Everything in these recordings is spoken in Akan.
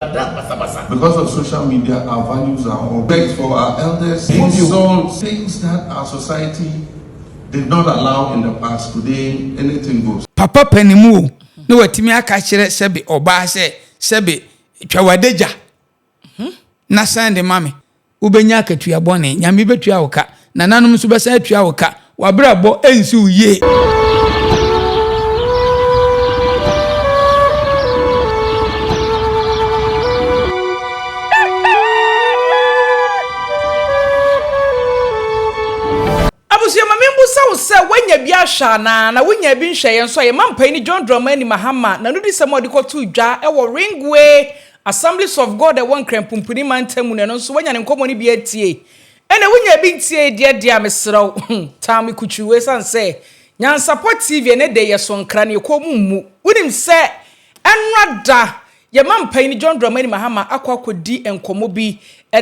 Ɛda basabasa. Because of social media our values are all wrecked for our elders insult things that our society did not allow in the past today anything goes. Papa panin mu o na watumi aka kyerɛ sɛbe ɔbaa sɛ sɛbe twa w'adagya na sɛn de ma me. Wobɛnya akatua bɔne. Nyame bɛtua wo ka. Nananom nso bɛsan atua wo ka. W'abrabɔ nsi wo yie. Abusua ma menbusa wo sɛ woanya bi ahwɛ anaa? Na wonyaa bi nhwɛeɛ nso a, yɛma mpaini John Dramani Mahama n'anodisɛm a ɔde kɔtoo dwa wɔ Ringway Assemblies of God a ɛwɔ Nkran Pumpuni mantam mu no, ɛno nso woanya ne nkɔmmɔ no bi atie? Ɛna wonyaa bi ntiee deɛ deɛ a, mesrɛ wo, tan me kutuu ɛsiane sɛ Nyansapɔ TV ɛnnɛ da yi yɛ so nkra na yɛ kɔn mu mmu. Wonim sɛ ɛnnora da yɛn mampanin John Dramani Mahama akɔ akɔdi nkɔmmɔ bi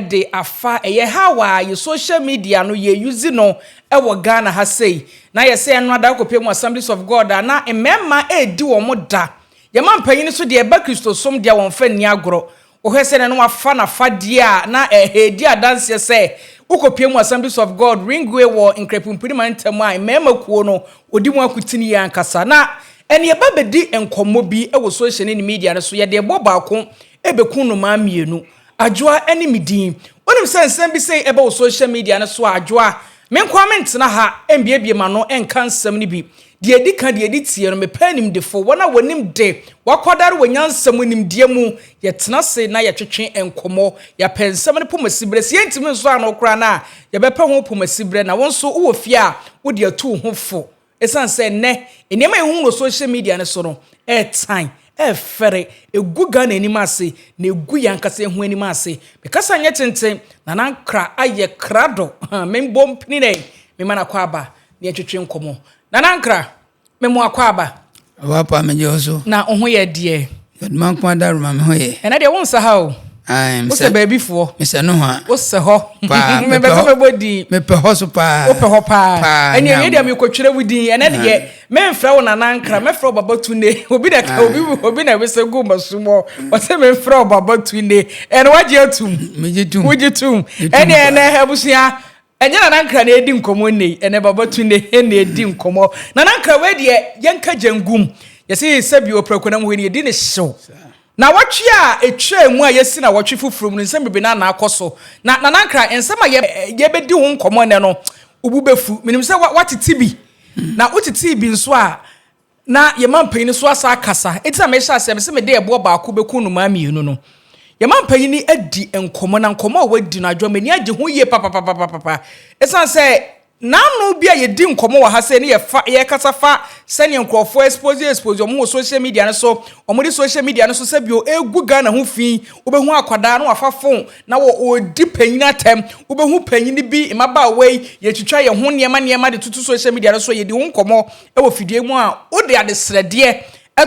de afa ɛyɛ how a yɛ social media no yɛ use no wɔ Ghana ha sei. Na ayɛ sɛ ɛnnora da akɔpie mu Assemblies of God a na mmarima ɛredi wɔn da Yɛma mpanyin nso deɛ ɛba Kristosom deɛ a wɔmfa nni agorɔ. Wohwɛ sɛdeɛ na wɔafa n'afadeɛ a na ɛredi adanseɛ sɛ wokɔpue mu Assemblies of God Ringway wɔ Nkrɛpumpuni mantam a mmarima kuo no wɔdi mu akotene yi ankasa. Na ɛnna yɛba bɛdi nkɔmmɔ bi wɔ social ne ne media no so, yɛde ɛboɔ baako bɛku nnomaa mmienu. Adwoa ne me din. Wonim sɛ nsɛm bi sei ɛba wɔ social media no so a, Adwoa, menkɔ a mentena ha mbiebie m'ano nka nsɛm no bi. Deɛ ɛdi kan, deɛ ɛdi tie no, mepɛ animdefo, wɔn a wɔnim de, wɔakwadare wɔ nyansa mu, nimdeɛ mu, yɛtena ase na yɛtwetwe nkɔmmɔ, yɛapɛ nsɛm no pomasiberɛ, sɛ yɛntumi nsɔ ano koraa no a, yɛbɛpɛ ho pomasiberɛ, na wo nso wowɔ fie a, wode atu wo ho fo. Ɛsiane sɛ nnɛ, nneɛma a yɛhu wɔ social media no so no, ɛretan, ɛrefɛre, ɛgu Ghana anim ase, na ɛgu yɛn ankasa yɛn ho anim ase. Mekasa nyɛ tenten, Nana Ankra ayɛ krado, memmɔ mpininɛ, mema no akwaaba, Ne yɛ twetwe nkɔmɔ. Nana Nkra, me mo akɔ aba. Ɔwɔ apa me gye so. Na wo ho yɛ deɛ. Yɛdoma nko ada roma me ho yɛ. Ɛnɛ deɛ wo nsa ha o. Ae, me sɛ baabi foɔ. Me sɛ no hɔ. Wo sɛ hɔ. Paa, me pɛ hɔ. Me bɛ din. Me pɛ hɔ so paa. Wo pɛ hɔ paa. Paa, ɛnɛ yɛ deɛ me kɔ twere wo din. Ɛnɛ deɛ me nfra wo Nana Nkra, me fra wo Baba Tunde. Obi na ka obi obi na wese gu ma sumɔ. Ɔsɛ me fra wo Baba Tunde. Ɛnɛ wagye atum. Me gye tum. Wogye tum. Ɛnɛ ɛnɛ abusua. Ɛnyɛ Nana Nkra na yɛredi nkɔmmɔ nnɛ yi, ɛnɛ Baba Tunde he na yɛredi nkɔmmɔ. Nana Nkra wei deɛ, yɛnka gya ngu mu. Yɛse sɛbi wɔ Prakonam hɔ yi no, yɛdi no hyew. Nnawɔtwe a etwaa mu a yɛasi nnawɔtwe foforɔ mu no, nsɛm bebree na na akɔ so. Na Nana Nkra, nsɛm a yɛrebɛdi ho nkɔmmɔ nnɛ no, wo bo bɛfu. Menim sɛ woatete bi, na wotetee bi nso a, Na yɛn mampanyin no nso asa akasa. Enti na mehyɛ aseɛ mese mede ɛboɔ baako bɛku nnomaa mmienu no. Yɛn mampanyin no adi nkɔmmɔ, na nkɔmmɔ a wadi no, Adwoa, m'ani agye ho yie papapapapapa. Ɛsiane sɛ n'ano bi a yɛdi nkɔmmɔ wɔ ha sei ne yɛfa, yɛkasa fa sɛdeɛ nkurɔfoɔ expose expose wɔn ho wɔ social media no so, wɔde social media no so sɛ bio ɛregu Ghana ho fi, wobɛhu akwadaa na wafa phone na wɔ ɔredi panyin atɛm, wobɛhu panyin bi, mmabaawa yi, yɛtwitwa yɛn ho nneɛma nneɛma de toto social media no so, yɛdi ho nkɔmmɔ. wɔ fidie mu a, wode adesrɛdeɛ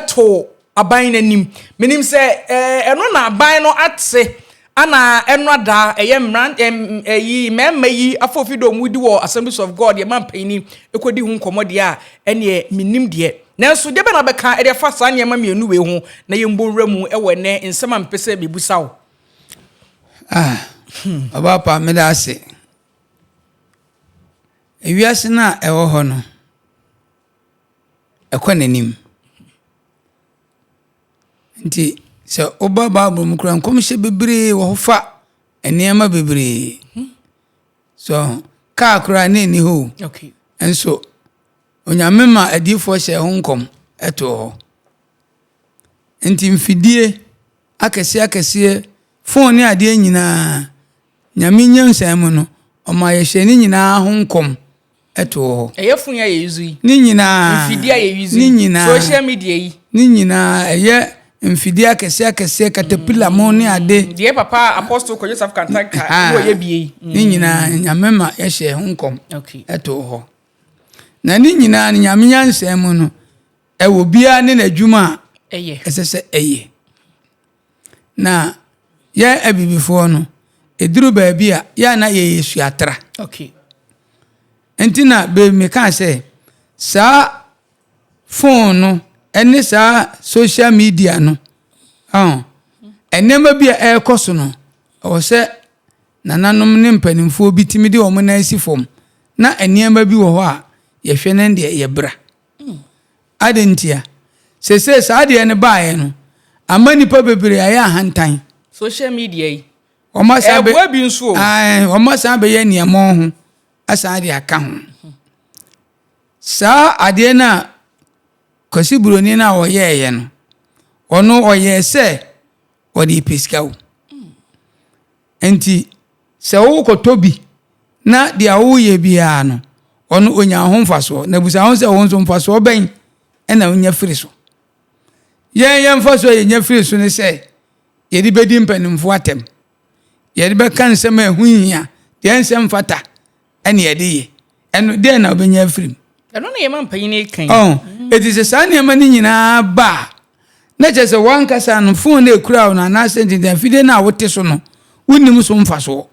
to aban no anim. Menim sɛ ɛno na aban no ate ana ɛno ada ɛyɛ mmran ɛm ɛyi mmarima yi afɔfi dɔm wodi wɔ Assemblies of God yɛ mampanin ɛkɔdi ho nkɔmmɔ deɛ a ɛneɛ menim deɛ. Nanso deɛ bɛ na bɛka ɛde afa saa nneɛma mmienu wei ho na yɛn bɔ nwura mu ɛwɔ ɛnɛ nsɛm a mepɛ sɛ mebusa wo. Ah, ɔbaapa meda ase. Wiase no a ɛwɔ hɔ no, ɛkɔ n'anim. Nti sɛ woba Bible mu kura nkɔmhyɛ bebree wɔ hɔ fa nneɛma bebree. So kaa koraa ne nni hɔ nso onyame ma adiifoɔ hyɛ ho nkɔm ɛto hɔ. Nti mfidie akɛseɛ akɛseɛ, fon ne adeɛ nyinaa Nyame nyansa mu no, ɔma yɛhyɛ ne nyinaa ho nkɔm to wɔ hɔ. Ɛyɛ fon yi a yɛuse yi. Ne nyinaa. Mfidie a yɛuse yi. Ne nyinaa. Social media yi. Ne nyinaa ɛyɛ mfidie akɛseɛ akɛseɛ katapila mo ne ade. Deɛ papa apostol kɔyɛ safo kantanka ɛmu ɔyɛ bie yi. Ne nyinaa nyame ma yɛhyɛ ho nkɔm to wɔ hɔ. Na ne nyinaa no nyame nyansa mu no ɛwɔ biara ne n'adwuma a ɛsɛ sɛ ɛyɛ. Na yɛ abibifoɔ no, ɛduru baabi a, yɛ a na yɛyɛ suatra. Okay. Nti na baabi mekaa sɛ, saa fon no ne saa social media no, ɔn, nneɛma bi a ɛrekɔ so no, ɛwɔ sɛ nananom ne mpanimfoɔ bi tumi de wɔn nan si fam na nneɛma bi wɔ hɔ a yɛhwɛ ne deɛ yɛbra. Adɛn ntia? Seesei saa adeɛ no baeɛ no ama nnipa bebree ayɛ ahantan. Social media yi, ɛɛboa bi nso o. Ae, wɔasan abɛyɛ aniammɔn ho asan de aka ho. Saa adeɛ no a Kwasi Buroni no a ɔyɛeɛ no, ɔno ɔyɛɛ sɛ ɔde repɛ sika o. Enti sɛ wokɔtɔ bi na deɛ woyɛ biara no, ɔno ɔnya ho mfasoɔ. Na bisa ho sɛ, wo nso mfasoɔ bɛn na wonya firi so? Yɛn yɛn mfasoɔ a yɛnya firi so ne sɛ yɛde bɛdi mpanimfoɔ atɛm, yɛde bɛka nsɛm a ɛho nhia, deɛ ɛnsɛ mfata, ɛne ɛde yɛ ɛno dɛn na ɔbɛnya afiri mu ɛno na yɛma mpanyin kan ɔn ɛti sɛ saa nneɛma no nyinaa ba a na kyerɛ sɛ wankasa no fon no ɛkura wo no anaasɛ ntintan afidie no a wote so no wonim so mfasoɔ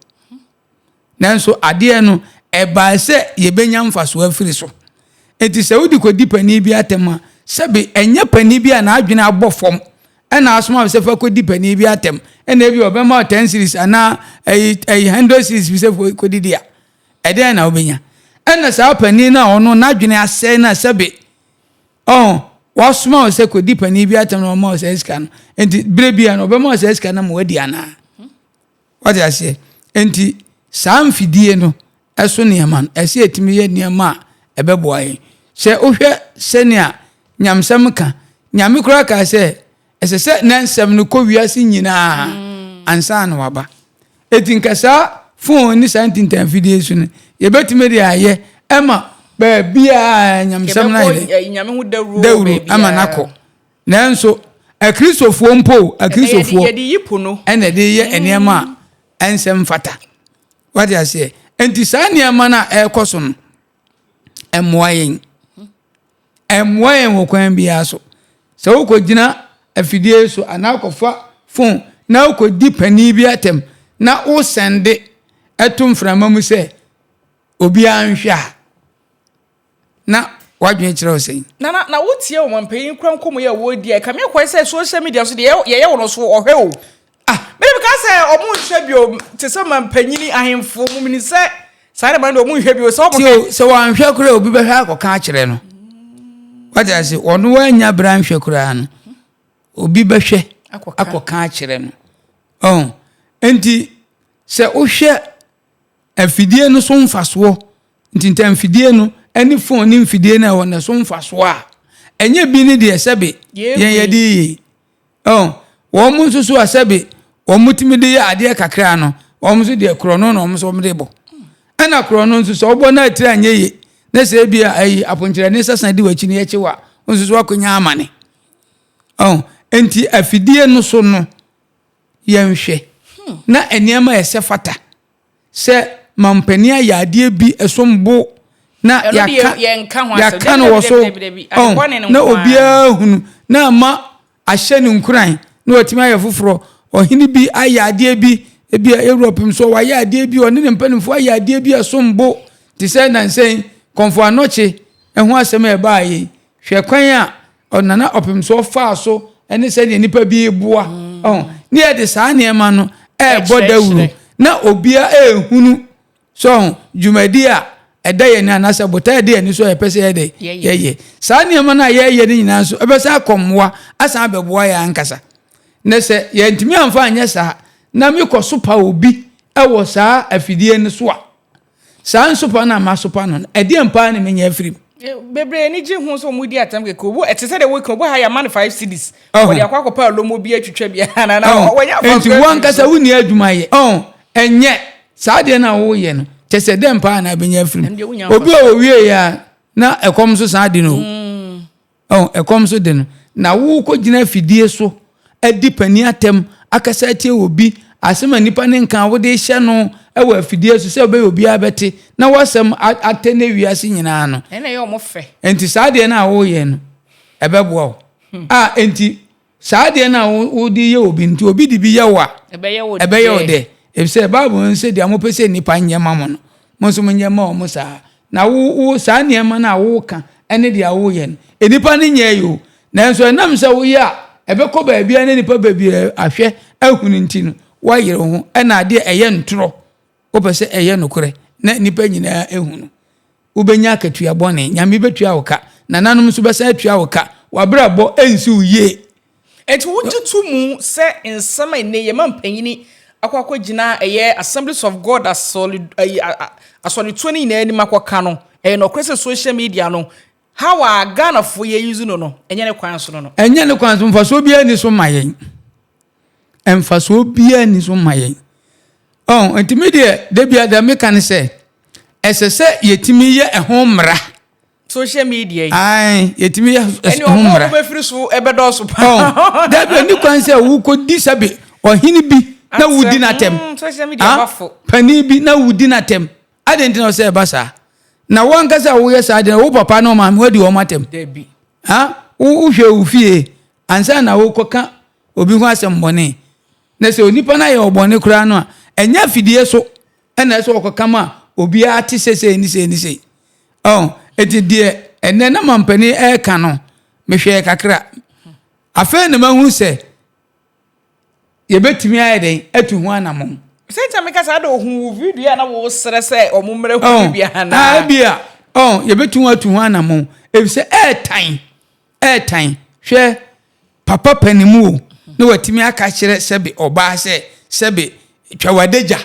nanso adeɛ no ɛbaa sɛ yɛbɛnya mfasoɔ afiri so ɛti sɛ wode kɔdi panin bi atɛm a sɛbe ɛnyɛ panin bi a n'adwene abɔ fam Ɛna asoma me sɛ fa kɔdi panin bi atɛm, ɛna ebi ɔbɛma wo ten series anaa ɛyi ɛyi hundred series bi sɛ fo kɔdidi a, ɛdɛn na wobɛnya? Ɛna saa panin no a ɔno n'adwene asɛe no a sɛbe ɔho wasoma wo sɛ kɔdi panin bi atɛm na ɔma wo saa sika no, nti berɛ bia no ɔbɛma wo saa sika no ma wadi anaa? Wate aseɛ? Enti saa mfidie no so nneɛma no, ɛsɛ yɛtumi yɛ nneɛma a ɛbɛboa yɛn. Sɛ wohwɛ sɛnea nyamsɛm ka, Nyame koraa kaa sɛ, ɛsɛ sɛ na nsɛm no kɔ wiase nyinaa mm. ansa na waba. Eti nka saa fon ne saa ntintanfidie so no, yɛbɛtumi de ayɛ ɛma baabi a nyamsɛm no ayɛ dawuro ama no akɔ. Nanso, Akristofoɔ mpo, Akristofoɔ na ɛde yɛ nneɛma a ɛnsɛ mfata. Wate aseɛ? Enti saa nneɛma no a ɛrekɔ so no, ɛmmoa yɛn. Ɛmmoa yɛn wɔ kwan biara so. Sɛ wokɔgyina afidie so anaa wokɔfa fon na wokɔdi panin bi atɛm na wosɛnde ɛto mframa mu sɛ obiara nhwɛ a, na w'adwene kyerɛ wo sɛn? Nana, na wotie ɔmampanyin kura nkɔmmɔ yi a wɔredi a, ɛka me akwan sɛ social media nso deɛ yɛyɛ wɔ no so ɔhwɛ o. Ah. Mede meka sɛ ɔmo nhwɛ bio te sɛ ɔmampanyin ahemfo mo menim sɛ saa de ma no deɛ ɔmo nhwɛ bio sɛ ɔmo. Tio, sɛ wɔanhwɛ koraa obi bɛhwɛ akɔka akyerɛ no. Wate ase, ɔno wannya bere anhwɛ koraa no, obi bɛhwɛ akɔka akyerɛ no. Ɔn, enti sɛ wohwɛ Afidie no so mfasoɔ nti nti mfidie no ne phone ne mfidie no a ɛwɔ no so mfasoɔ a ɛnyɛ bi ne deɛ sɛbe yɛn yɛde yie oh, wɔn mo nso so a sɛbe wɔn mo tumi de yɛ adeɛ kakra no wɔn nso deɛ korɔ no na wɔn nso wɔn de bɔ ɛna korɔ no nso sɛ wɔbɔ no atiri anyɛ yie na sɛ ebi a ayi aponkyerɛ ne sɛsan di wɔn akyi ne yɛkye wa nso so akɔnya amane oh, nti afidie no so no Yɛnhwɛ na nneɛma a ɛsɛ fata sɛ mampanin ayɛ adeɛ bi som bo na yɛaka no wɔ so na obiara hunu na ama ahyɛ no nkuran na watumi ayɛ foforɔ. Ɔhene bi ayɛ adeɛ bi, ebi a Europe nso wayɛ adeɛ bi, ɔne ne mpanimfoɔ ayɛ adeɛ bi a ɛsom bo te sɛ nansɛn kɔmfo anɔkye ɛho asɛm a ɛbaa yɛn. Hwɛ kwan a ɔnana ɔpem so ɔfaa so ne sɛdeɛ nnipa bi reboa ɔho ne yɛde saa nneɛma no ɛrebɔ dawuro na obia ɛrehunu so ɔho dwumadi a ɛda yɛn anaasɛ botae ɛda yɛn so a yɛpɛ sɛ yɛde yɛyɛ saa nneɛma no a yɛreyɛ no nyinaa nso ɛbɛsan akɔ mmoa asan abɛboa yɛn ankasa na sɛ yɛntumi amfa anyɛ saa na mekɔ so pa obi ɛwɔ saa afidie no so a Saa nsopa no a masopa no no, ɛdeɛn paa na menya afiri mu? Bebree ani gye ho sɛ wɔdi atɛm kɛkɛ. Obu ɛte sɛ deɛ woka obu ha yɛama no five cedis. Wɔde akɔ akɔpɛ alomo bi atwitwa bi anaa na wɔnyɛ afɔnkɔ. Enti wo ankasa wonni adwuma yɛ. Ɛnyɛ saa adeɛ no a woyɛ no kyɛ sɛ dɛn paa na abɛnya afiri mu. Obi a ɔwieeɛ a na ɛkɔm nso san de no. Ɔn, ɛkɔm so de no, na worekɔ gyina afidie so adi panin atɛm, akasa atia obi, asɛm a nnipa no nka a wode rehyɛ no wɔ afidie so sɛ wobɛyɛ obiara bɛte, na w'asɛm atɛnɛ wiase nyinaa no. Ɛna ɛyɛ wɔn fɛ. Enti saa adeɛ no a woreyɛ no, ɛbɛboa wo. Hmm. A, enti Saa adeɛ no a wode yɛ obi no, nti obi de bi yɛ wo a, ɛbɛyɛ wo dɛ. Efisɛ Bible no se, deɛ mopɛ sɛ nnipa nyɛ ma mo no, mo nso monyɛ mma wɔn saa ara. Na wo, wo, saa nneɛma no a woka ne deɛ woyɛ no, nnipa no nyɛɛ o, nanso ɛnam sɛ woyɛ a ɛbɛkɔ baabiara na nnipa bebree ahwɛ ahunu nti no, woayere wo ho, ɛnna adeɛ a ɛyɛ ntorɔ. Wopɛ sɛ ɛyɛ nokorɛ na nnipa nyinaa hu no? Wobɛnya akatua bɔne. Nyame bɛtua wo ka. Nananom nso bɛsan atua wo ka. W'abrabɔ nsi wo yie. Enti wogye to mu sɛ nsɛm a nnɛ yɛma mpanyini akɔ akɔgyina ɛyɛ Assemblies of God asɔre, ayi, asɔretuo no nyinaa anim akɔka no, ɛyɛ nɔkorɛ sɛ social media no How a Ghanafoɔ yɛ use no no, ɛnyɛ ne kwan so no no. Ɛnyɛ ne kwan so, mfasoɔ biara nni so ma yɛn. Mfasoɔ biara nni so ma yɛn. Oh, nti me deɛ, da biara deɛ meka ne sɛ, ɛsɛ sɛ yɛtumi yɛ ɛho mmara. Social media yi. Ae, yɛtumi yɛ ɛho mmara. Ɛne ɔmo a wɔbɛfiri so ɛbɛdɔɔso paa. Oh, da bi ɛni kwan sɛ wokɔdi sɛbe ɔhene bi na wodi n'atɛm. Mm, social media bafo. Ah, panin bi na wodi n'atɛm. Adɛn nti na ɔsɛ ɛba saa? Na wo ankasa a woyɛ saa deɛ, wo papa ne wo maame woadi wɔn atɛm? Dabi. Ha? Wohwɛ wo fie ansa na wokɔka obi ho asɛm bɔne. Na sɛ onipa no ayɛ ɔbɔne koraa no a, ɛnyɛ afidie so na ɛsɛ wɔkɔka ma obiara te sɛ sei ne sei ne sei. Oh, enti deɛ ɛnɛ na mampanin ɛreka no, mehwɛɛ kakra. Afei na mahunu sɛ, Yɛbɛtumi ayɛ dɛn atu ho anammɔn? Sɛnkyɛ meka saa de ohuu wo video a na woresrɛ sɛ wɔmmrɛ hu no bi anaa? Oh, ebia. Oh, yɛbɛtumi atu ho anammɔn, efisɛ ɛretan, ɛretan. Hwɛ, papa panin mu o, na watumi aka akyerɛ sɛbe ɔbaa sɛ, sɛbe, twa w'adagya.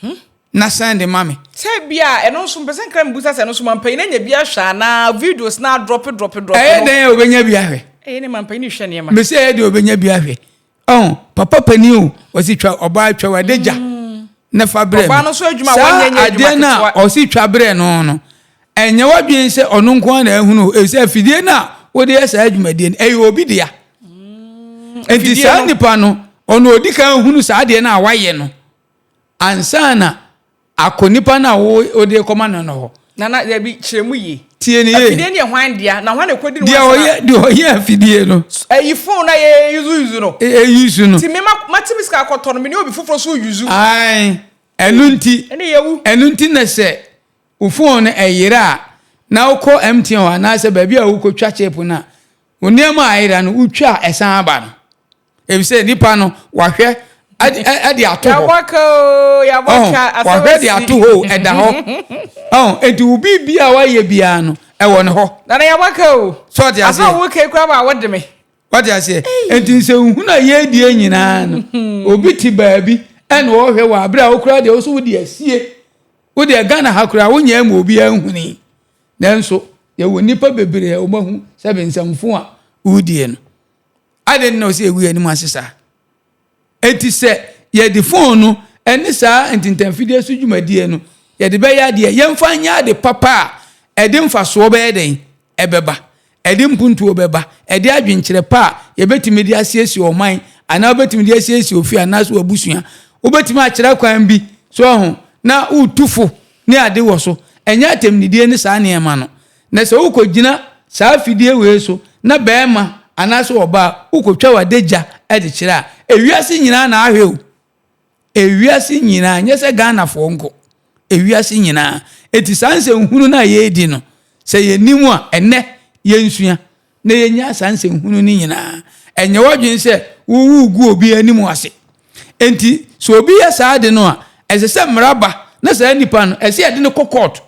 Hmm? na sɛn de ma me. Sɛ bi a ɛno nso mpɛ sɛ nkra mebisa sɛ ɛno nso mampanyin anya bi ahwɛ anaa videos na adrɔpe drɔpe drɔpe ɛyɛ dɛn a obɛnya bi ahwɛ ɛyɛ ne mampanyin hwɛ nneɛma mesɛ ɛyɛ deɛ obɛnya bi ahwɛ ɔho papa panin o ɔsi twa ɔbaa twa wade gya mm. na fa berɛ ɔbaa no nso adwuma wɔnyɛ nyɛ adwuma ketewa saa adeɛ no a ɔsi twa berɛ no no ɛnyɛ wadwen sɛ ɔno nko na ahunu ɛsɛ afidie no a wode yɛ saa adwumadie no ɛyɛ obi dea mm. nti saa nipa no ɔno ɔdi kan hunu saa adeɛ no a wayɛ no ansa na akɔ nipa no a wode rekɔma no no hɔ. Nana, dabi, kyerɛ mu yie. Tie no yie. Afidie no yɛ hwan dea, na hwan na ɛkɔdi no hɔ asɛm a. Deɛ ɔyɛ afidie no. Ɛyi phone na yɛ yuzu yuzu no. Yɛ yuzu no. Ti mi ma ma ti mi sika akɔtɔ no mi ni obi foforɔ so yuzu. Ayi, ɛnu nti. Ɛni yɛ wu. Ɛnu nti na sɛ o phone no ɛyera a na okɔ MTN hɔ anaasɛ baabi a okɔ twa chip no a, o nneɛma a ɛyera no o twa a ɛsan aba no. Efisɛ nipa no wahwɛ ɛde ato hɔ. Yabɔka o, yabɔka asɛm asi. Wahwɛ de ato hɔ o, ɛda hɔ. Ɔn, eti wo biribi a wayɛ biara no, ɛwɔ ne hɔ. Nana yabɔka o. So ɔte aseɛ. Asa wo kei kura ba wo de me. Ɔte aseɛ. Eti nsɛ nhunu a yɛredie nyinaa no, obi te baabi ɛna ɔhwɛ wɔ abere a okura deɛ woso wode asie. Wodeɛ Ghana ha koraa wonyɛ ma obiara nhuni. Nanso yɛwɔ nipa bebree a wɔahu sɛ bensɛmfo a wodie no. Adɛn nti na ɔsɛ yɛgu yɛn anim ase saa? Enti sɛ yɛde fon no ne saa ntintanfidie so dwumadie no yɛde bɛyɛ adeɛ, yɛmfa nyɛ ade papa a ɛde mfasoɔ bɛyɛ dɛn? Ɛbɛba. Ɛde mpuntuo bɛba. Ɛde adwenkyerɛ pa a yɛbɛtumi de asiesie ɔman anaa wobɛtumi de asiesie ofie anaasɛ w'abusua. Wobɛtumi akyerɛ kwan bi so ho na wotu fo ne ade wɔ so. Ɛnyɛ atɛmnidie ne saa nneɛma no. Na sɛ wokogyina saa afidie wei so na barima anaasɛ ɔbaa wokotwa w'adagya de kyerɛ a, ewiase nyinaa na ahwɛ o. Ewiase nyinaa, nyɛ sɛ Ghanafoɔ nko. Ewiase nyinaa. Enti saa nsɛnhunu no a yɛredi no, sɛ yɛnim a, ɛnnɛ yɛnsua na yɛnyaa saa nsɛnhunu no nyinaa. Ɛnyɛ w'adwene sɛ wowu gu obi anim ase. Enti sɛ obi yɛ saa ade no a, ɛsɛ sɛ mmara ba na saa nipa no, ɛsɛ sɛ yɛde no kɔ kɔɔto.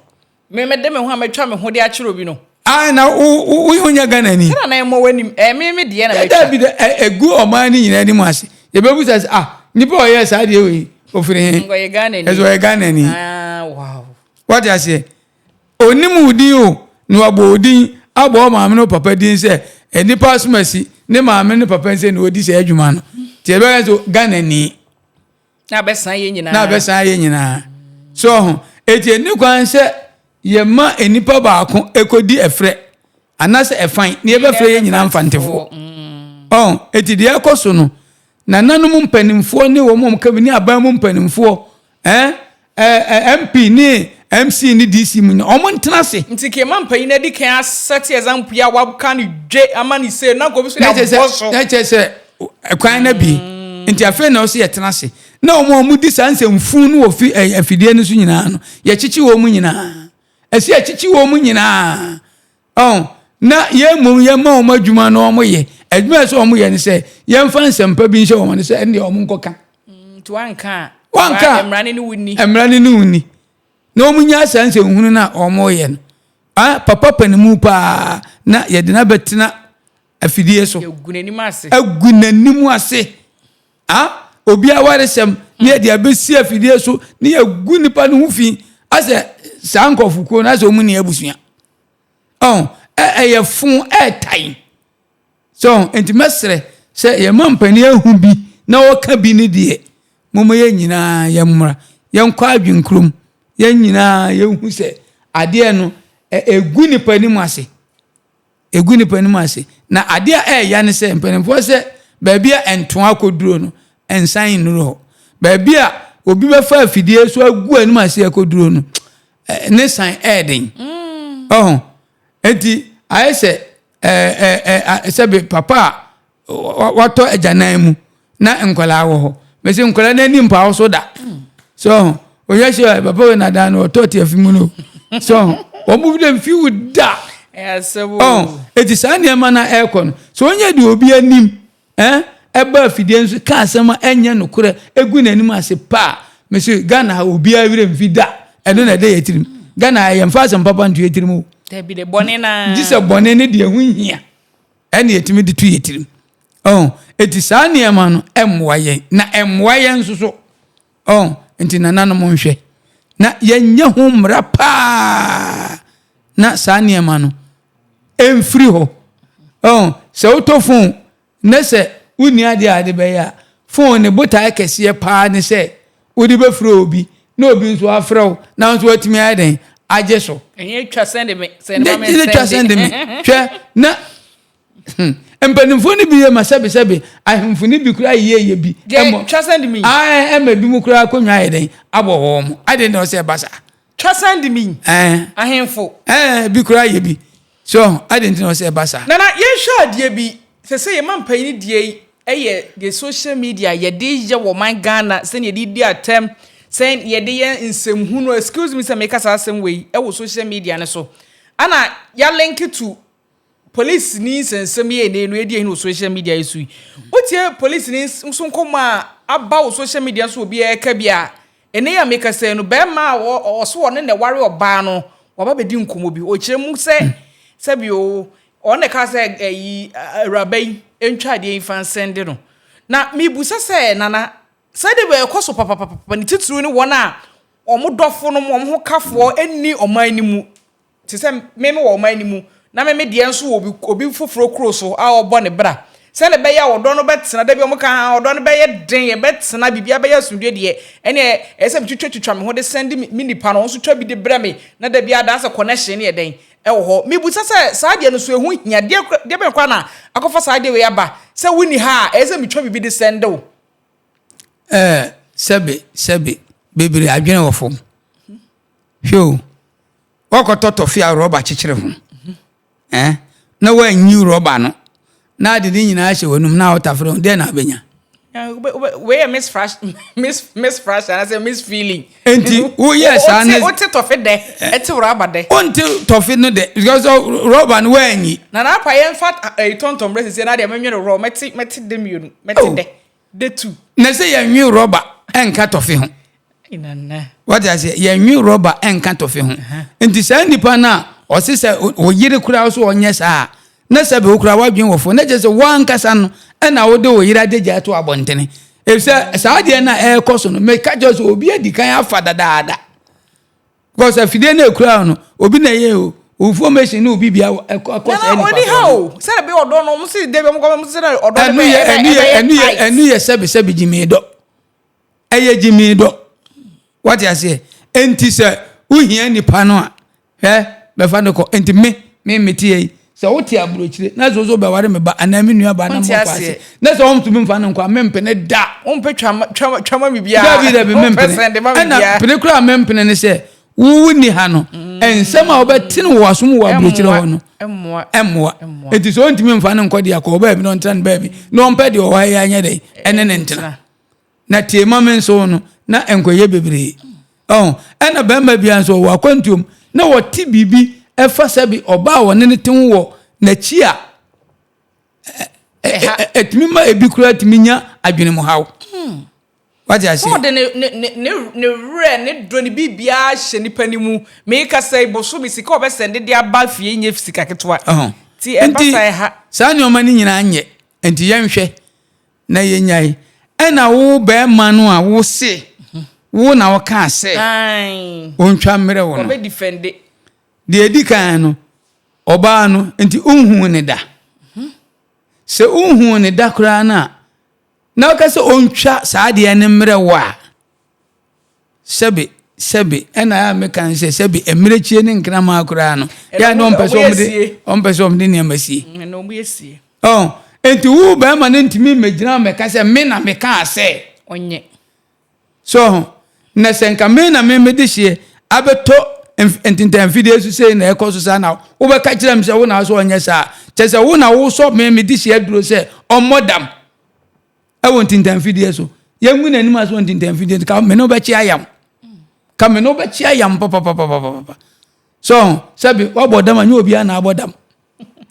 Me me de me ho a matwa me ho de akyerɛ obi no. Ah na wo wo wo ho nyɛ Ghana ni. Sɛ na na ɛmɔ w'anim ɛɛ me me deɛ na matwa. Ɛda bi da ɛgu ɔman ne nyinaa anim ase yɛbɛbu sa sɛ ah nipa a ɔyɛ saa deɛ wei ofiri he. Nga ɔyɛ Ghana ni. Ɛsɛ ɔyɛ Ghana ni. Ah wow. Wate aseɛ onim wo din o na wabɔ wo din abɔ wo maame ne wo papa din sɛ nipa asomasi ne maame ne papa nsɛ na odi saa adwuma no nti yɛbɛka sɛ Ghana ni. na abɛsan yɛ nyinaa na abɛsan yɛ nyinaa so ɔho eti ɛni kwan sɛ yɛma nnipa baako ɛkɔdi ɛfrɛ anasɛ ɛfan na yɛbɛfrɛ yɛ nyinaa mfantefoɔ mm. ɔho eti deɛ ɛkɔ so no nananom mpanimfoɔ ne wɔn a wɔka bi ne aban mu mpanimfoɔ ɛn Ɛɛ MP ne MC ne DC mu nyinaa ɔmo ntena ase. Nti kma mpanyin no adi kan a set example yi a waka no dwe ama no sei na nka obi so de abɔ so. Na kyerɛ sɛ kwan no abie nti afei na ɔsɛ yɛtena ase na ɔmo a ɔmo di saa nsɛmfun no wɔ fi afidie no so nyinaa no yɛkyekye wɔn nyinaa ɛsɛ yɛkyekye wɔn nyinaa Ɔn, na yɛn mmom yɛma wɔn adwuma na wɔyɛ. Adwuma a ɛsɛ wɔn yɛ ne sɛ, yɛmfa nsɛmpa bi nhyɛ wɔn ano sɛ ɛnneɛ wɔn nkɔka. Mm, nti wanka a. Wanka a. Mmara ne ne wo ni. Mmara ne ne wo ni. Na wɔn nya saa nsɛnhunu no a wɔn yɛ no. Ah, papa panimu paa na yɛde no abɛtena afidie so. Yɛgu n'anim ase. Agu n'anim ase. Ah, obi awaresɛm na yɛde abɛsi afidie so na yɛgu nipa no ho fi asɛ saa nkurɔfokuo no asɛ wɔn ni abusua. ɛyɛ fo ɛɛtan so nti mɛsrɛ sɛ yɛma mpanin ahu bi na ɔka bi ne deɛ moma yɛn nyinaa yɛn mmra yɛn kɔ adwene kurom yɛn nyinaa yɛn hu sɛ adeɛ no ɛgu nipa anim ase ɛgu nipa anim ase na adeɛ a ɛɛya ne sɛ mpanimfoɔ sɛ baabi a ɛntoa akɔduro no ɛnsan nnuru hɔ baabi a obi bɛfa afidie so agu anim ase akɔduro no eh, ne san ɛyɛ den mm. ɔho nti ayɛ sɛ eh, eh, sɛbe papa a watɔ agyanan mu na nkwadaa wɔ hɔ mesi nkwadaa no ani mpa so da mm. so ɔho ohwɛ sɛ papa wei nadan no ɔtɔ te afi mu no so ɔho wɔn mu dɛm fi wo da ɔho eti saa nneɛma na ɛrekɔ no so onye de obi anim. Ɛɛ ɛbɔ afidie nso ka asɛm a ɛnyɛ nokorɛ gu n'anim ase paa mese Ghana ha obiara werɛ mfi da ɛno na ɛda yɛ tirim Ghana ha yɛmfa asɛm papa nto yɛ tirim o dabi de bɔne na gye sɛ bɔne ne deɛ ɛho hia ɛne yɛtumi de to yɛ tirim oh eti saa nneɛma no ɛmmoa yɛn na ɛmmoa yɛn nso so Oh, nti nananom nhwɛ. Na yɛnyɛ ho mmara paa na saa nneɛma no ɛmfiri hɔ. Oh, sɛ wotɔ fon na sɛ wonni adeɛ a ade bɛyɛ a, fon ne botaeɛ kɛseɛ paa ne sɛ wode bɛfrɛ obi na obi nso afrɛ wo na nso watumi ayɛ dɛn agye so. Ɛnyɛ twa sɛnde me, sɛnde ma me nsɛnde. Ɛnyɛ twa sɛnde me, hwɛ na Mpanimfoɔ no bi yɛ ma sɛbesɛbe, ahemfo no bi koraa yɛ yɛ bi mmɔ. Ae, ɛma ebinom koraa akonnwa ayɛ dɛn? Abɔ wɔn. Adɛn na ɔsɛ ɛba saa? Twasandimi, ahemfo. Bi koraa yɛ bi. So, adɛn nti na ɔsɛ ɛba saa? Nana, yɛnhwɛ adeɛ bi. Sɛ sɛ yɛma mpanyin deɛ yi ɛyɛ deɛ social media yɛde yɛ wɔ man Ghana sɛnea yɛde di atɛm, sɛ yɛde yɛ nsɛmhunu, excuse me sɛ meka saa asɛm wei, ɛwɔ social media no so. Ɛna yɛ link to Polisini nsɛnsɛmyɛni no adi ahi wɔ social media yi so yi. Wotie polisini nso nkɔmmɔ a aba wɔ social media so obi ɛreka bi a, ɛnɛ yi a mekasa yi no, barima a ɔwɔ so ɔne na ɛware ɔbaa no, waba bɛdi nkɔmmɔ bi. Ɔkyerɛ mu sɛ, sɛbi o, ɔno na ɛkaa sɛ ɛyi awuraba yi ntwa adeɛ yi mfa nsɛnde no. Na mebusa sɛ, Nana, sɛ de bɛ ɛkɔ so papapapapa ne titiriw ne wɔn a wɔn dɔfo nom, wɔn ho kafoɔ nni ɔman no mu. te sɛ me mewɔ ɔman no mu na me me deɛ nso wɔ obi obi foforɔ kuro so a ɔrebɔ ne bra sɛdeɛ ɛbɛyɛ a ɔdɔ no bɛtena da bi wɔn ka ah ɔdɔ no bɛyɛ den ɛbɛtena biribiara bɛyɛ asomdwoe deɛ ɛne ɛyɛ sɛ metwitwatwitwa me ho de sɛn de me me nipa no wɔn nso twa bi de brɛ me na da bi adaa sɛ connection ne yɛ dɛn ɛwɔ hɔ mebusa sɛ saa deɛ no so ɛho hia deɛ kora deɛ bɛn koraa na akɔfa saa deɛ wei aba sɛ wonni ha a ɛyɛ sɛ metwa biribi de sɛn de wo. ɛɛ sɛbe sɛbe bebree adwene wɔ fam Hwɛ o, woakɔtɔ tɔfe a rɔba kyekyere ho ɛ, na woanyiw rɔba no, na ade ne nyinaa hyɛ w'anom na wotafere ho, dɛn na wobɛnya? Wei yɛ Miss Fresh, Miss Miss Fresh, anaasɛ Miss Feeling. Nti woyɛ saa ne. Wote tɔfe dɛ, ɛte rɔba dɛ. Wonte tɔfe no dɛ, because rɔba no woanyi. Na n'apa yɛn fa ɛyi tɔntɔn brɛ sisi na deɛ menwene rɔ, mɛte mɛte dɛ mmienu, mɛte dɛ. de tu. Na sɛ yɛnwe rɔba nka tɔfe ho. Wate aseɛ yɛnwe rɔba nka tɔfe ho. Nti saa nipa no a ɔse sɛ ɔyere koraa so ɔnyɛ saa na sɛ bɛwo koraa wadwen wɔ fo na kyerɛ sɛ woankasa no ɛna wode wo yere adagya ato abɔntene. Efisɛ saa adeɛ no a ɛrekɔ so no meka kyerɛ sɛ obi adi kan afa dadaada. Because afidie no ekura no obi na ɛyɛ o owufoɔ machine ne obi bia ɛkɔ ɛkɔ sɛ ɛnipa obi ha o sɛ ɛbi ɔdɔ no ɔmo si de bi ɔmo kɔ ɔmo si sɛ ɔdɔ no bɛ ɛbɛ ɛbɛ yɛ ɛnu yɛ ɛnu yɛ sɛbi sɛbi gyimi dɔ ɛyɛ gyimi dɔ wate aseɛ nti sɛ wohia nipa no a hɛ bɛfa no kɔ nti me me me ti yɛ yi Sɛ wote aburokyire na sɛ ɔsɛ ɔbɛware me ba anaa me nua ba na mmɔ kwaase na sɛ wɔntumi mfa no nkwa mempene da. Wompɛ twama biribiara. Dabi dabi mempene. Ɛna pene koraa mempene ne sɛ wowu nni ha no mm. nsɛm a wobɛte no wɔ wasom wɔ aburokyire hɔ no ɛmmoa. Enti sɛ ɔntumi mfa no nkɔ deɛ akɔ ɔbaabi na ɔntena no baabi na ɔmpɛ deɛ ɔwɔ ha yɛ anyɛ dɛn ɛne ne ntena. Na tie ma me nso no, na nkɔyɛ bebree. Ɔho, ɛna bɛrima bia nso ɔwɔ akwantuom, na ɔte biribi ɛfa sɛbi ɔbaa a ɔne no te ho wɔ nakyi a, ɛtumi ma ebi koraa tumi nya adwene mu haw. Hmm. Wate aseɛ? Ɔde ne, ne, ne, ne, ne werɛ, ne dɔ, ne biribiara hyɛ nipa ne mu. Meekasa yi, boso me sika ɔbɛsɛnde de aba fie nyɛ sika ketewa. Ɔho. Ti ɛba sa ɛha. Saa nneɛma no nyinaa nyɛ, nti yɛnhwɛ. na yɛnyae. Ɛna wo bɛɛma no a wo se wo na wo kaa sɛ ontwa mmerɛ wo no deɛ ɛdi kan no ɔbaa no nti wonhuu ne da mhm. sɛ wonhuu ne da koraa no a na woka sɛ ontwa saa deɛ ne mmerɛ wo a sɛbe sɛbe ɛna a meka no sɛ sɛbe mmerɛkyie ne nkraman koraa no yɛ na ɔmpɛ sɛ ɔmde ɔmpɛ sɛ ɔmde nneɛma sie ɔn nti wo bɛrima no ntumi mmɛgyina mɛka sɛ me na mekaa sɛ ɔnyɛ so ho na sɛ nka me na me mede hyeɛ abɛtɔ ntintanfidie so sei na ɛkɔ so saa na wobɛka kyerɛ m sɛ wo na so ɔnyɛ saa kyɛ sɛ wo na wosɔ me mede hyeɛ duro sɛ ɔmmɔ dam ɛwɔ ntintanfidie so yɛngu n'anim ase wɔ ntintanfidie so ka me ne wobɛkye ayam ka me ne wobɛkye ayam papapapapapa so sɛbi wabɔ dam a nyɛ obiara na abɔ dam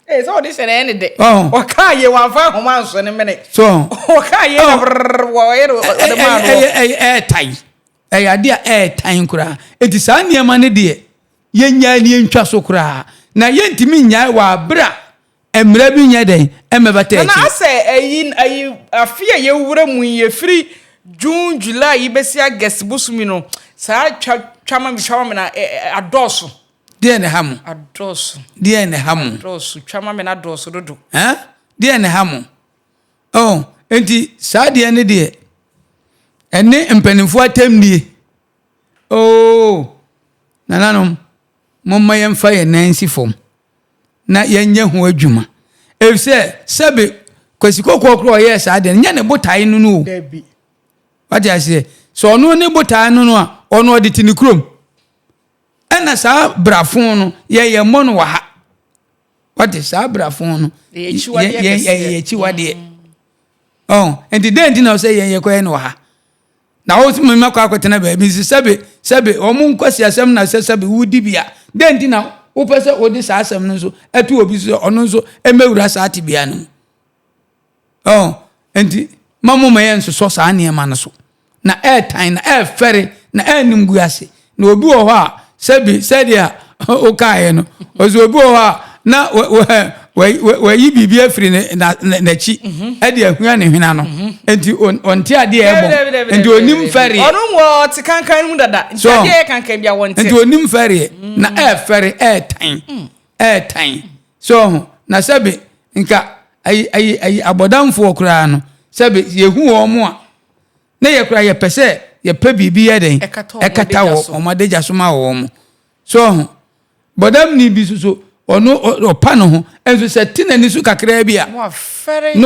ee eh, sɛ ɔde hyɛ n'ɛne dɛ ɔkaa yɛ wɔamfa ahoma nso ne mene so ɔkaa yɛ na brrr wɔyɛ no ɔde maa no ɛyɛ tan ɛyɛ adeɛ a ɛyɛ tan koraa eti saa nneɛma ne deɛ yɛnyaa ne yɛntwa so koraa na yɛntumi nyae wɔ abere a Mmara bi nyɛ dɛn mmɛbata akyire. Nana asɛ ɛyi ɛyi afe a yɛwura mu yi ɛfiri June July yi bɛsi August bosom yi no saa twa twa ma me twa ma me na ɛ ɛ adɔɔso. Deɛn na ɛha mo? Adɔɔso. Deɛn na ɛha mo? Adɔɔso twa ma me na adɔɔso dodo. Ɛn deɛn na ɛha mo? Oh enti saa deɛ ne deɛ ɛne mpanimfoɔ atɛmdie oh nananom momma yɛmfa yɛn nan nsi fam. na yɛnyɛ ho adwuma. Efisɛ sɛbe Kwasi Kokoo koraa ɔyɛɛ saa deɛ no, nyɛ ne botae no no o. Dabi. Wate aseɛ? Sɛ ɔno ne botae no no a, ɔno ɔde te ne kurom. Ɛna saa brafo no, yɛyɛ mmɔ no wɔ ha. Wate, saa brafo no, yɛyɛ akyiwadeɛ. Ɔn, nti dɛn nti na ɔsɛ yɛn yɛkɔyɛ no wɔ ha? Na wotumi ma kɔ akɔtena baabi nso. Sɛbe, sɛbe, wɔn nkwaseasɛm na ɛsɛ sɛbe wodi bi a, dɛn nti na wopɛ sɛ wode saa asɛm no nso to obi so sɛ ɔno nso mmɛwura saa tebea no mu? Oh, enti ma momma yɛnsosɔ saa nneɛma no so. Na ɛretan, na ɛrefɛre, na ɛrenimguase, Na obi wɔ hɔ a, sɛbi sɛdeɛ wokaeɛ no, ɔsɛ obi wɔ hɔ a na wayi biribi afiri n'akyi mhm. de ahua ne hwena no mhm. nti ɔnte adeɛ a ɛbɔ nti ɔnim fɛreɛ ɔno wɔ ɔte kankan mu dada nti adeɛ yɛ kankan bi a wɔnte nti ɔnim fɛreɛ mm. na ɛɛfɛre ɛɛtan mm. ɛɛtan so ho na sɛbi nka ayi ayi ayi abɔdamfoɔ koraa no sɛbi yɛhu wɔn a Na yɛ koraa yɛpɛ sɛ yɛpɛ biribi yɛ dɛn ɛkata wɔ wɔn adagya so ma wɔn. So ɔho? Bɔdamni bi nso so, ɔno ɔpa ne ho, nso sɛ te n'ani so kakraa bi a, na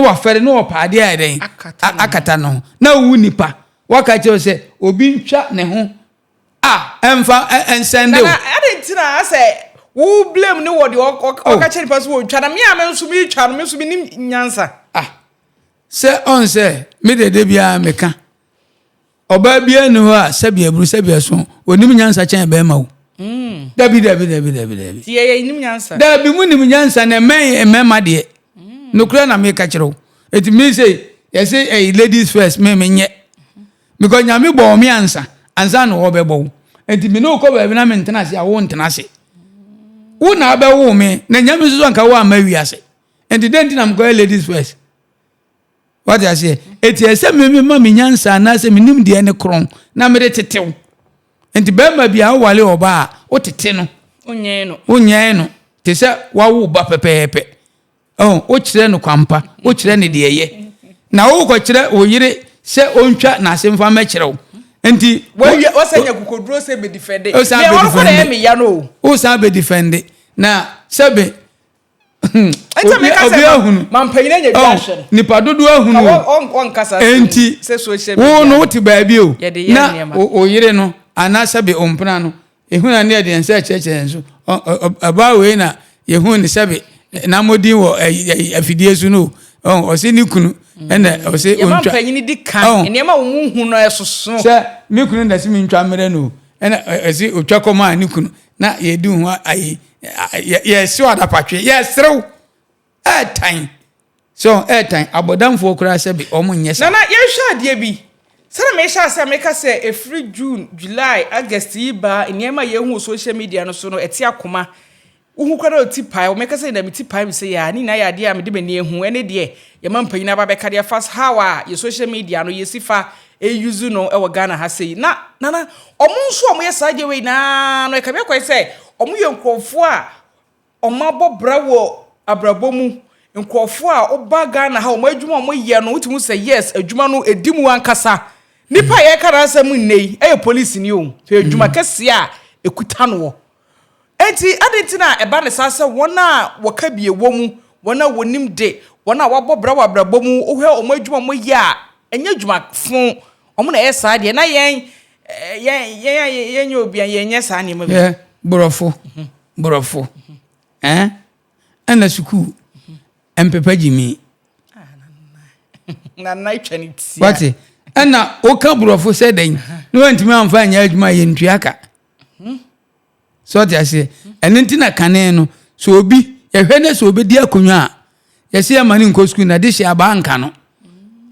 wafɛre, na ɔpɛ adeɛ ayɛ dɛn akata ne ho. Na wo nipa, waka akyerɛ wo sɛ obi ntwa ne ho a, ɛmfa nsɛnde wo. Nana, adɛn nti na asɛ wo blame no wɔ deɛ ɔka kyerɛ nipa no sɛ ɔntwa, na me a me nso meretwa no, me nso mennim nyansa. Ah, Sɛ ɔn sɛ me deɛ da biara me ka. Ɔbaa biara nni hɔ a sɛbi aburu sɛbi ɛso ɔnim nyansa kyɛn bɛɛma o. Dabi dabi dabi dabi dabi. Ti yɛyɛ nim nyansa. Dabi mu nim nyansa na ɛmɛn mmɛɛma deɛ. Nokorɛ na me ka kyerɛw. Eti me sɛ yɛsɛ ɛyi ladies first me me nyɛ. Because nyame bɔɔ me ansa ansa na ɔbɛbɔ wo. Eti me ne wo kɔ baabi na me ntena ase a wo ntena ase. Wo na abɛwo me na nyame nso so anka wo amma wiase. nti dɛn nti na mekɔyɛ ladies first wate aseɛ ɛti ɛsɛ memema me nyansa anaasɛ menim deɛ ne korɔn na mede tetew nti bɛrima bia wowale ɔba a wotete no wonyɛn no te sɛ wawo ba pɛpɛɛpɛ oh, wokyerɛ no kwampa wokyerɛ no deɛ ɛyɛ na wokɔkyerɛ wo yere sɛ ɔntwa n'ase mfa mɛkyerɛ wo nti wɔsɛ nya kokoduro sɛ bɛdifɛnde wosan bɛdifɛnde na sɛbe Enti meka sɛ obiara hunu. ma mpanyin anya bi ahwɛ no. Nipa dodoɔ ahunu o. Wɔnkasa asɛm Enti wo no wote baabi o na wo yere no anaa sɛbe wo mpena no ehunu a ne ɛdeɛn sɛ ɛkyerɛkyerɛ yɛn so ɔbaa wei na yɛhunu ne sɛbe n'amɔdin wɔ afidie so no o ɔse ne kunu ɛna ɔse ɔntwa. Yɛma mpanyin di kan nneɛma wɔn mu hu no ɛsoso. Sɛ me kunu na ɛse me ntwa mmerɛ no o ɛna ɛse ɔtwa kɔma ne kunu Na yɛdi ho ayi yɛsi wɔ adapatwe yɛserew ɛɛtan so ɛɛtan abɔdamfoɔ koraa sɛ bi wɔn nyɛ saa. Nana yɛnhwɛ adeɛ bi sɛdeɛ mehyɛ aseɛ meka sɛ ɛfiri June, July, August yi baa nneɛma a yɛhu wɔ social media no so no ɛte akoma wohu koraa na ɔti pae wɔ meka sɛ nyina meti pae mesɛ yɛa ne nyinaa yɛ adeɛ a mede m'ani ahu ɛne deɛ yɛma mpanyin aba bɛka deɛ fa how a yɛ social media no yɛsi fa Eyuzu no wɔ Ghana ha sei. Na Nana, ɔmo nso a ɔmo yɛ saa adeɛ wei nyinaa no, ɛka bia kwan sɛ ɔmo yɛ nkorɔfoɔ a ɔmo abɔ bra wɔ abrabɔ mu. Nkorɔfoɔ a woba Ghana ha, ɔmo adwuma a ɔmo yɛ no, wotumi hu sɛ yes, adwuma no ɛdi mu ankasa. Nipa a yɛka n'asɛm nnɛ yi, ɛyɛ polisini o, hwɛ adwuma kɛseɛ a ɛkuta noɔ. Enti, adɛn nti na ɛba no saa sɛ wɔn a wɔka bi wɔ mu, wɔn a wɔnim de, wɔn a wɔabɔ bra wɔ abrabɔ mu, wohwɛ wɔn adwuma a wɔyɛ a, ɛnyɛ adwuma fõ, wɔn na ɛyɛ saa deɛ, na yɛn, yɛn, yɛn a yɛnyɛ obi a, yɛnyɛ saa nneɛma bi. Yɛ borɔfo, borɔfo, ɛn, ɛna sukuu, ɛmpepa gyimi. Nana atwa ne ti. Wate, ɛna woka borɔfo sɛ dɛn, na wantumi amfa anyɛ adwuma yɛntua ka. Hmm. sɛ ɔte aseɛ ɛno nti na kane no sɛ obi yɛhwɛ ne sɛ obɛdi akonnwa a yɛsɛ yɛma no nkɔ sukuu na de hyɛ abaa nka no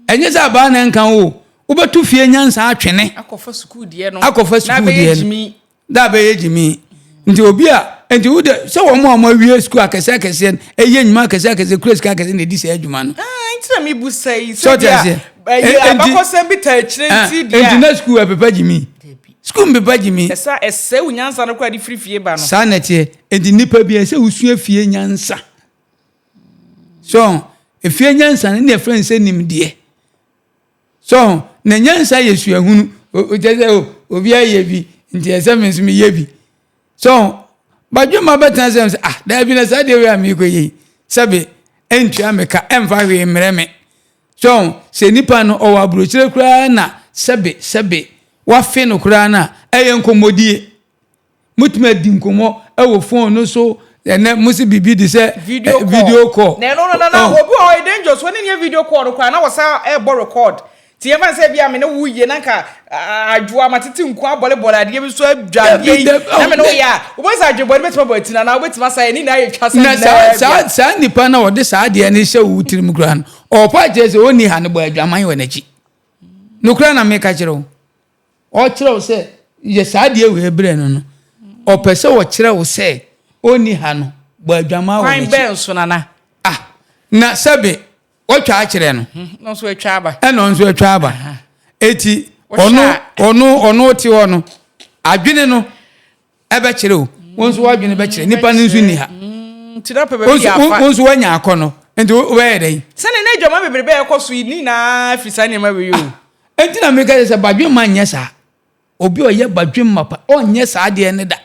ɛnyɛ sɛ abaa na nka o wobɛto fie nyansa atwene akɔfa sukuu deɛ no akɔfa sukuu deɛ no da bɛyɛ gyimi nti obi a nti wode sɛ wɔn a wɔawie sukuu akɛseɛ akɛseɛ no ɛyɛ nnwuma akɛseɛ akɛseɛ kura sika akɛseɛ na ɛdi saa adwuma no ah, nti na mebu sɛ yi sɛ deɛ abakɔsɛm bi ta akyirɛ nti deɛ nti na sukuu ɛpepa gyimi Sukuu mbeba gye me. Ɛsɛ a ɛsɛe wo nyansa no koraa de firi fie ba no. Saa na ɛteɛ. Enti nnipa biara, ɛsɛ sɛ wosua fie nyansa. So ho? Efie nyansa no, na ɛfrɛ no sɛ nimdeɛ. So ho? Na nyansa yɛ suahunu. Kyerɛ sɛ, o, obiara yɛ bi, nti ɛsɛ sɛ me nso meyɛ bi. So ho? Badwemma bɛtena sɛ sɛ, ah, daabi na saa deɛ wei a merekɔyɛ yi, sɛbe, ɛntua me ka, ɛmfa hwee mmrɛ me. So sɛ nipa no ɔwɔ aburokyire koraa na sɛbe sɛbe wafe no koraa no a, ɛyɛ nkɔmmɔdie. Motumi adi nkɔmmɔ wɔ phone no so, ɛnɛ mo se biribi de sɛ video call. Na ɛno no na na obi wɔ hɔ ɛyɛ dangerous, wɔne no yɛ video call no koraa na wɔsan ɛrebɔ record. Nti yɛmfa no sɛ ebia me ne wo rewie na nka Adwoa, matete nku, abɔlebɔle, adeɛ bi so adwadeɛ yi, na me ne wo yɛ a, wobɛhu sɛ adwene bɔne bɛtumi abɔ atini anaa wobɛtumi asa yɛ ne nyinaa yɛ twa sɛ na saa saa saa nipa na ɔde saa adeɛ no hyɛ wo tirim koraa no ɔpa akyerɛ sɛ ɔnni ha no bɔ adwaman wɔ n'akyi nokora na meka kyerɛ wo ɔkyerɛ wo sɛ yɛ saa adeɛ wei berɛ no no ɔpɛ sɛ ɔkyerɛ wo sɛ ɔnni ha no bɔ adwaman wɔ n'akyi kwan bɛn so nana ah na sɛbe Wɔtwa akyerɛ no. Hmm, no nso atwa aba. Ɛna ɔno nso atwa aba. Eti ɔno ɔno ɔno te hɔ no adwene no ɛbɛkyerɛ o. Wɔn nso wadwene bɛkyerɛ. Hmm, Nipa no nso ni ha. Hmm, nti na pɛ baabi yɛ afa. Wɔn nso wanya akɔ no. Nti wɔbɛyɛ dɛ yi. Sani ne adwuma bebrebe ɛkɔ so yi ni na firi saa nneɛma wei o. Ah, eti na mi ka sɛ badwemma nyɛ saa. obi a ɔyɛ badwem mapa ɔnyɛ saa adeɛ no da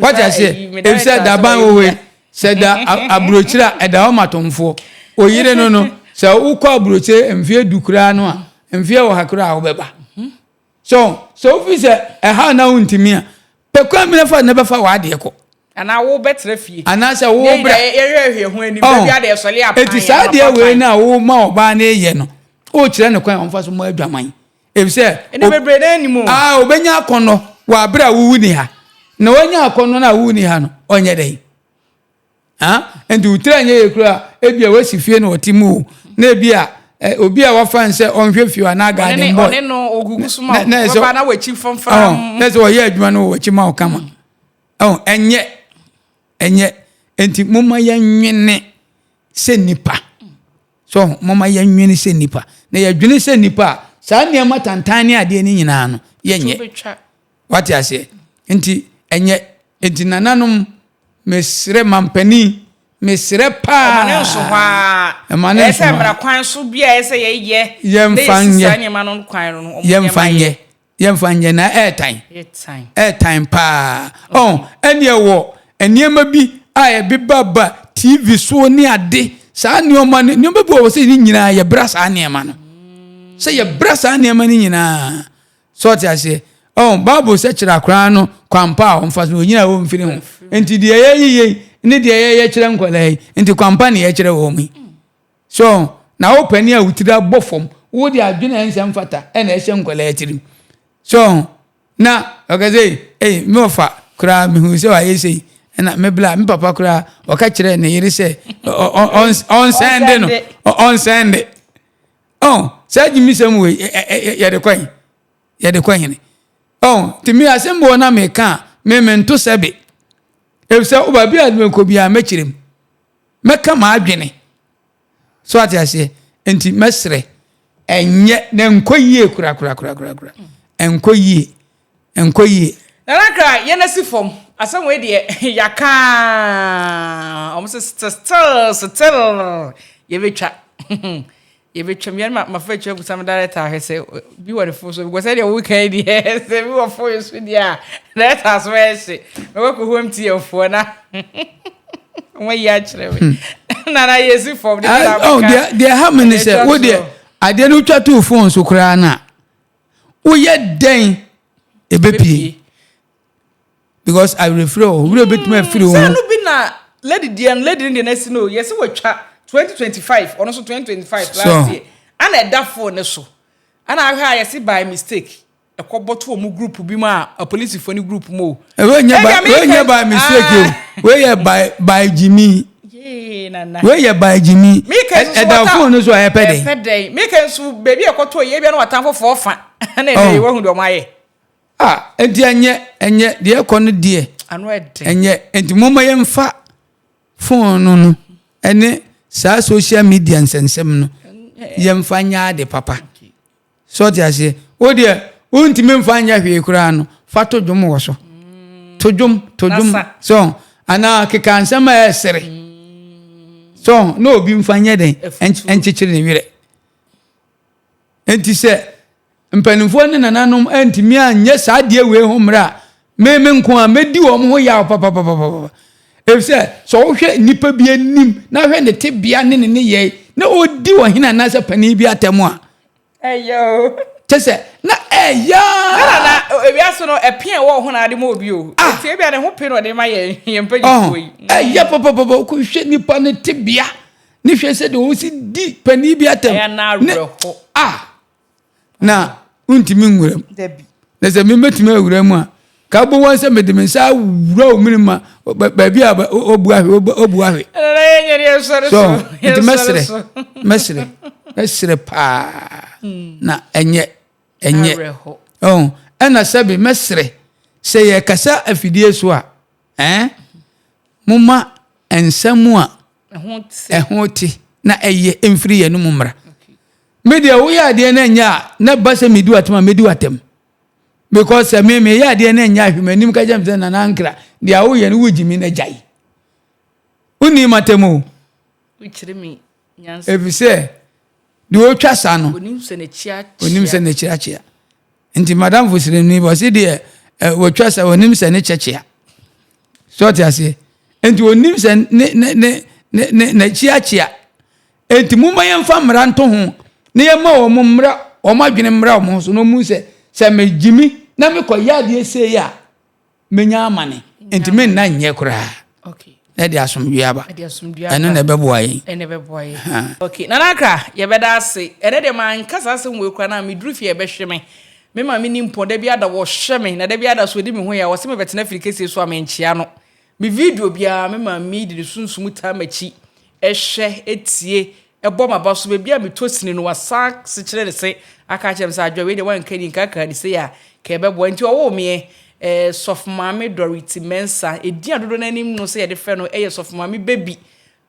wata sɛ ebisɛ daban wɔ hɔ yi sɛ da aburokyire a ɛda hɔ ma tomfoɔ oyere no no sɛ wokɔ aburokyire mfeɛ du koraa no a mfeɛ wɔ ha koraa wobɛba mhm. so sɛ wofi sɛ ɛha na wontumi a pɛ kwan bi na fa na bɛfa w'adeɛ kɔ anaa wo bɛtena fie anaasɛ wo bra yɛhwɛhwɛ ho anim baabi a deɛ sɔle apan ɛti saa deɛ wei no a wo ma ɔbaa no yɛ no wokyerɛ no kwan ɔmfa so ma adwaman Efisɛ ɛnna bebree na anim o. Aa obenya akɔnnɔ wɔ abere a wowu ni ha. Na wanya akɔnnɔ no a wowu ni ha no, ɔnyɛ dɛn? Ah, nti wotira nyɛ yɛ kura ebi a wasi fie na ɔte mu o. Na ebi a eh, obi a wafa nsɛ ɔnhwɛ fie anaa garden boy. Ɔne no ogugu so ma wo. Ɔbɛba na wakyi fɔmfram. Na sɛ ɔyɛ adwuma no wɔ wakyi ma wo kama. Ɛho ɛnyɛ ɛnyɛ nti mo ma yɛnwene sɛ nipa. So momma yɛnnwene sɛ nnipa. Na yɛdwene sɛ nnipa a, saa nneɛma tantan ne adeɛ no nyinaa no, yɛnyɛ. Wate aseɛ? Nti, ɛnyɛ. Nti, nananom, mesrɛ mampanin, mesrɛ paa. Ɔma ne nso hɔ ara. Ɛma ne nso hɔ ara. Ɛsɛ mmara kwan so bi a ɛsɛ yɛyɛ. Yɛmfa nyɛ. Yɛmfa nyɛ. Yɛmfa nyɛ na ɛretan. Ɛretan paa. Ɔn, ɛneɛ wɔ nneɛma bi a ɛbebaba TV so ne ade, saa nneɛma no, nneɛma bi wɔ hɔ sɛ ne nyinaa yɛbra saa nneɛma no. Sɛ yɛbra saa nneɛma no nyinaa. Sɛ ɔte aseɛ. Ɔn, Bible sɛ kyerɛ akoraa no kwampa a ɔmfa so, ɔnyina a ɔmfiri ho. Nti deɛ yɛyɛ yei ne deɛ yɛyɛ kyerɛ nkwadaa yi, nti kwampa ne yɛkyerɛ wɔn yi. So na wo panin a wo tiri abɔ fam, wode adwene a ɛnsɛ mfata na ɛhyɛ nkwadaa tirim? So na ɔka sɛ, Ei, me wɔfa koraa, mehuu sɛ wayɛ sei. Ɛna me bla, me papa koraa, ɔka kyerɛɛ ne yere sɛ ɔnsɛnde no, ɔnsɛnde. Oh, saa gyimisɛm wei, yɛde kɔ he? Yɛde kɔ hene? Oh, nti me asɛm bɔ na meka a, me mento sɛbe. Efisɛ wo baabi a mekɔ biara mɛkyerɛ mu. Mɛka m'adwene. So wate aseɛ? Nti mɛsrɛ. Ɛnyɛ, na ɛnkɔ yie korakorakorakorakora. Ɛnkɔ yie. Ɛnkɔ yie. Nana Akra, yɛn asi fam. Asɛm wei deɛ, yɛaka ara. Wɔn se, Still, still, yɛbɛtwa. Yɛbɛtwam, yɛne ma mafa atwa kusa me director ahwɛ sɛ bi wɔ ne fo so because ɛdeɛ woka yi deɛ sɛ bi wɔ fo yi so deɛ a director so ɛhye mɛkɔ kɔ home tm foɔ na wɔn yi akyerɛ me hmm. na na yɛsi fam de ah, oh, bi na meka deɛ ha me ne sɛ wo deɛ adeɛ no twa too phone so koraa no a woyɛ dɛn ɛbɛpie because awerɛfiri wɔ hɔ werɛ bɛtumi afiri wo sɛ no bi na lady deɛ no lady no deɛ no asi no yɛsɛ wɔtwa 2025 ɔno so 2025 last year ana ɛda fo ne so ana ahwɛ a yɛse by mistake ɛkɔ bɔto ɔmo group bi mu a apolisifoɔ ne group mu o ɛwɛ nyɛ by mistake o wei yɛ by by gyimi wei yɛ by gyimi ɛda fo no so a ɛpɛ dɛn ɛpɛ dɛn meka nso baabi ɛkɔtɔ yɛ bia no watamfo fɔɔ fa ɛna ɛna ɛwɔ hu deɛ ɔmo ayɛ A, enti ɛnyɛ, ɛnyɛ, deɛ ɛkɔ no deɛ. Ano ɛdɛ. Ɛnyɛ, enti moma yɛn fa phone no no, ɛne saa social media nsɛnsɛm no, yɛn fa nyɛ ade papa. So ɔte aseɛ, o deɛ, o ntumi nfa nyɛ hwee koraa no, fa to dwom wɔ so. Mm. To dwom, to dwom, so, anaa keka nsɛm a ɛsere. Mm. So, na obi nfa nyɛ den, ɛnkyekyere ne werɛ. Enti sɛ mpanimfoɔ ne nananom antumi anyɛ saa adeɛ wei ho mmerɛ a, me me nko a mɛdi wɔn ho yaw papapapapa. Ɛfiri sɛ, sɛ wohwɛ nnipa bi anim na hwɛ ne tebea ne ne nneyɛe na ɔdi ɔhene anaasɛ panin bi atɛm a, ɛyɛ o. Kyɛ sɛ, na ɛyɛ a. Na na na ewiase no ɛpe a ɛwɔ hɔ na ade ma obi o. Ah. Nti ebi a ne ho pe na ɔde ma yɛn yɛn mpanyinfoɔ yi. Ɛyɛ papapapa kɔhwɛ nipa ne tebea ne hwɛ sɛ deɛ ɔsi di panin bi atɛm ne a na wontumi nwura mu na sɛ mebɛtumi awura mu a ka bɔ wɔn sɛ mede me nsa awura wo mene ma baabi a ɔbu ahwe ɔbu ahwe so nti mɛserɛ mɛserɛ mɛserɛ paa hmm. na ɛnyɛ ɛnyɛ ɛna sɛbe mɛserɛ sɛ yɛkasa afidie so a Ɛɛ, momma nsɛm a ɛho te na ɛyɛ mfiri yɛn mu mmra. Me deɛ woyɛ adeɛ no nyɛ a na ba sɛ medi w'atam a medi w'atam because sɛ me meyɛ adeɛ no nyɛ ahwɛ m'anim ka kyɛm sɛ nana ankra deɛ woyɛ no wogye mi na gyae wonni matam o ɛfiri sɛ deɛ ɔtwa sa no onim sɛ n'akyirakyia Nti madamfo srɛ no yi, ɔse deɛ eh, wɔtwa sɛ ɔnim sɛ ne kyɛkyea. So ɔte aseɛ? Nti ɔnim sɛ ne ne ne ne ne n'akyiakyia. Nti momma yɛmfa mmara nto ho na yɛma wɔn mmra wɔn adwene mmra wɔn ho so na wɔn sɛ sɛ megyimi na mekɔyɛ adeɛ sei a menya amane nti menna nyɛ koraa na ɛde asomdwoe aba ɛno na ɛbɛboa yɛn nana akra yɛbɛda ase ɛnɛ deɛ manka saa asɛm wei koraa na meduru fie ɛbɛhwe me me ma meni mpɔn da bi ada wɔhwɛ me na da bi ada so ɔdi me ho yɛ a wɔse mebɛtena firi kɛsie so a menkyea no me video biara me ma medi ne sunsum taa m'akyi ɛhwɛ ɛtie Ɛbɔ m'aba so baabi a metɔ sini no wasan sekyerɛ ne se aka akyerɛ me sɛ adwoa wei deɛ wanka ni nka kaa ni sei a ka ɛbɛboa nti ɔwoo meɛ eh, Sɔfomaame Dorothy Mensah ɛdin a dodoɔ no anim no sɛ yɛde frɛ no ɛyɛ Sɔfomaame Baby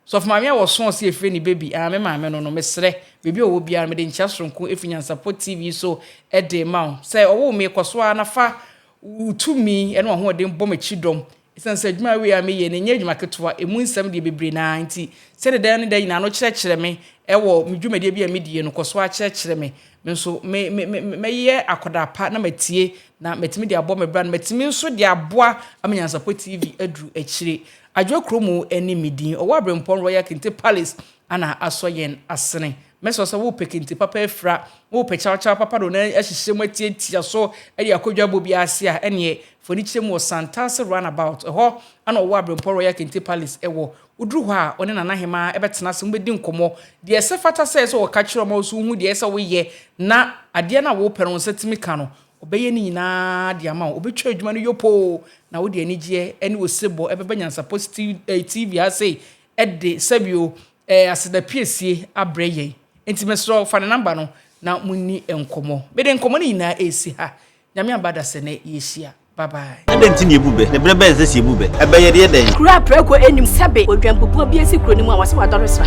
Sɔfomaame a wɔsɔɔ sɛ yɛfrɛ ne Baby ah, me maame no no mesrɛ baabi a ɔwɔ biara mede nkyea soronko ɛfiri Nyansapɔ TV so ɛde ma wo sɛ ɔwoo me kɔ so ara na fa wo tumi ɛne w'ahoɔden bɔ m'akyi dɔm Esiane sɛ adwuma wei a meyɛ no nyɛ adwuma ketewa, emu nsɛm deɛ bebree no ara nti, sɛdeɛ da ne da nyinaa no kyerɛkyerɛ me wɔ me dwumadie bi a medi yɛ no, kɔ so ara kyerɛkyerɛ me. Me nso, me, me, me, me, mɛyɛ akwadaa pa na matie, na matumi de abɔ me bra, na matumi nso de aboa ama Nyansapɔ TV aduru akyire. Adwoa Kuromu ne me din. Ɔwɔ Aberempɔn Royal Kente Palace na asɔ yɛn asene. Mɛsrɛ wo sɛ wopɛ kente papa afira, na wopɛ kyawkyaw papa de wo nan ahyehyɛ mu atiatia so de akɔ dwabɔ bi ase a, ɛnneɛ, fa ani kyerɛ mu wɔ Santase Runabout. Ɛhɔ na wɔwɔ Aberempɔn Royal Kente Palace wɔ. Woduru hɔ a, wo ne Nana Hemaa bɛtena ase, mobɛdi nkɔmmɔ. Deɛ ɛsɛ fata sɛ ɛsɛ sɛ wɔka kyerɛ wo ma wo nso wohu deɛ ɛsɛ sɛ woyɛ na adeɛ no a worepɛ no wo nsa tumi ka no, ɔbɛyɛ ne nyinaa de ama wo. Ɔbɛtwa adwuma no yopoo, na wode anigyeɛ ne osebɔ bɛba Nyansapɔ TV ha sei de sɛbi o, Ɛyɛ aseda piesie abrɛ yɛn. Enti mesrɛ wo fa ne number no na mo nni nkɔmmɔ. Mede nkɔmmɔ no nyinaa resi ha. Nyame aba dasɛnɛ yɛhyia. Bye bye. Adɛn nti na yɛbu bɛ? Na berɛ bɛn sɛ sɛ yɛbu bɛ a, ɛbɛyɛ deɛ dɛn? Kuro a prɛko nnim sɛ be odwanpopua bi asi kuro no mu a wɔse wadɔre sra.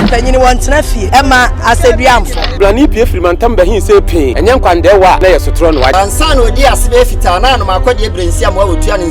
Mpanyini wɔ ntena fie ɛma aseduamfo. Brane pue firi mantam bɛhe sei pee, ɛnyɛ nkwandɛɛwa a na yɛ sotorɔ na wagye. Ansa na ɔdii ase bɛyɛ fitaa, na anom akɔdeɛ berɛnsiamoa a ɔtua ne nsa.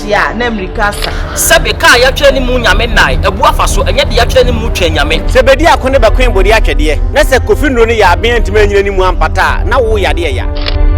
Deɛ a na mmirika asa. Sɛ be ka a yɛatwerɛ animu Nyame nnae, abu afa so, ɛnyɛ deɛ yɛatwerɛ animu Twɛn Nyame. Sɛ bedi ako ne bɛkoe bode atwɛdeɛ, na sɛ Kofi nnuro no yɛ aben antumi annyina animu ampata a, na wo yadeɛ ya.